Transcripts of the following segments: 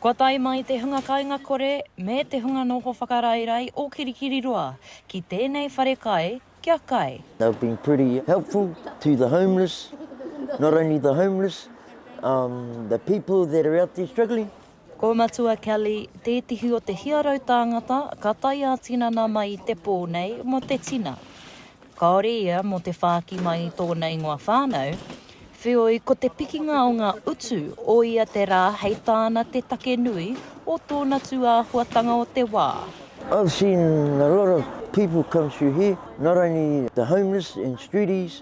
Kua tae mai te hunga kainga kore me te hunga noho whakaraerae o Kirikiriroa ki tēnei whare kai kia kai. They have been pretty helpful to the homeless, not only the homeless, the people that are out there struggling. Ko Matua Kelly, tētehi o te hiarau tāngata ka tae ā-tinana mai i te pō nei mō te tina. Kāore ia mō te whāki mai i tōna ingoa whānau, wheoi ko te pikinga o ngā utu o ia te rā hei tāna te take nui o tōna tūāhuatanga o te wā. I've seen a lot of people come through here, not only the homeless and streeties,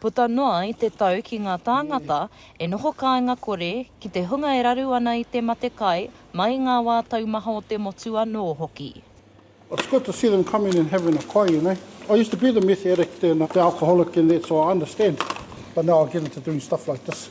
Puta noa i te tau ki ngā tāngata e noho kāinga kore ki te hunga e raru ana i te mate kai mai i ngā wā taumaha o te motu anō hoki. It's good to see them coming and having a kai you know. I used to be the meth addict and the alcoholic and that so I understand but now I get into doing stuff like this.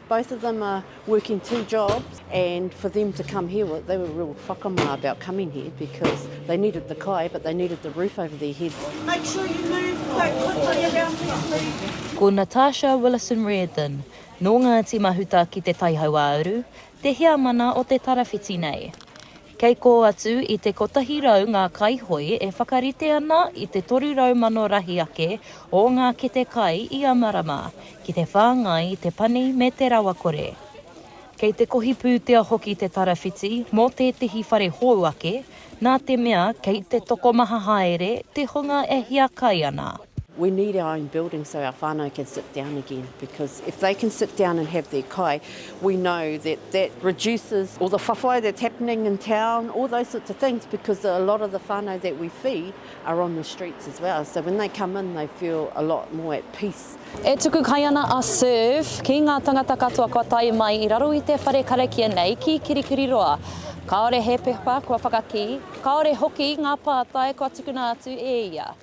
Both of them are working two jobs and for them to come here they were real whakamā about coming here because they needed the kai but they needed the roof over their heads. Make sure you move quite quickly around this league. Ko Natasha Willison-Reardon, nō Ngāti Mahuta ki Te Taihauāuru, te heamana o te tarawhiti nei. Kei kō atu i te kotahi rau ngā kaihoe e whakarite ana i te toru rau mano rahi ake o ngā kete kai ia marama, ki te whāngai i te pani me te rawakore. Kei te kohi pūtea hoki te tarawhiti mō tētehi whare hou ake, nā te mea kei te tokomaha haere te hunga e hiakai ana. We need our own building so our whānau can sit down again because if they can sit down and have their kai, we know that that reduces all the whawhai that's happening in town, all those sorts of things because a lot of the whānau that we feed are on the streets as well. So when they come in, they feel a lot more at peace. E tuku kai ana a Serve ki ngā tangata katoa kua tae mai i raro i te whare karakia nei ki Kirikiriroa. Kāore he pepa kua whakakī, kāore hoki ngā pātai kua tukuna atu e ia.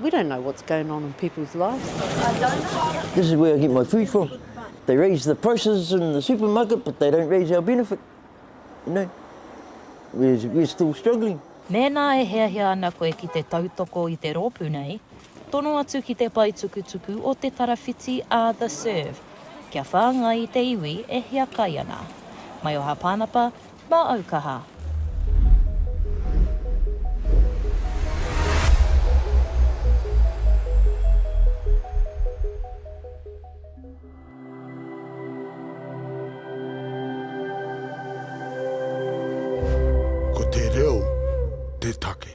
We don't know what's going on in people's lives. This is where I get my food from. They raise the prices in the supermarket but they don't raise our benefit. You know, we're, we're still struggling. Mēnā e hiahia ana koe ki te tautoko i te rōpū nei, tono atu ki te paetukutuku o Te Tarawhiti a The Serve, kia whāngai i te iwi e hiakai ana. Maioha Pānapa, Mā au kaha. Ko te reo te take.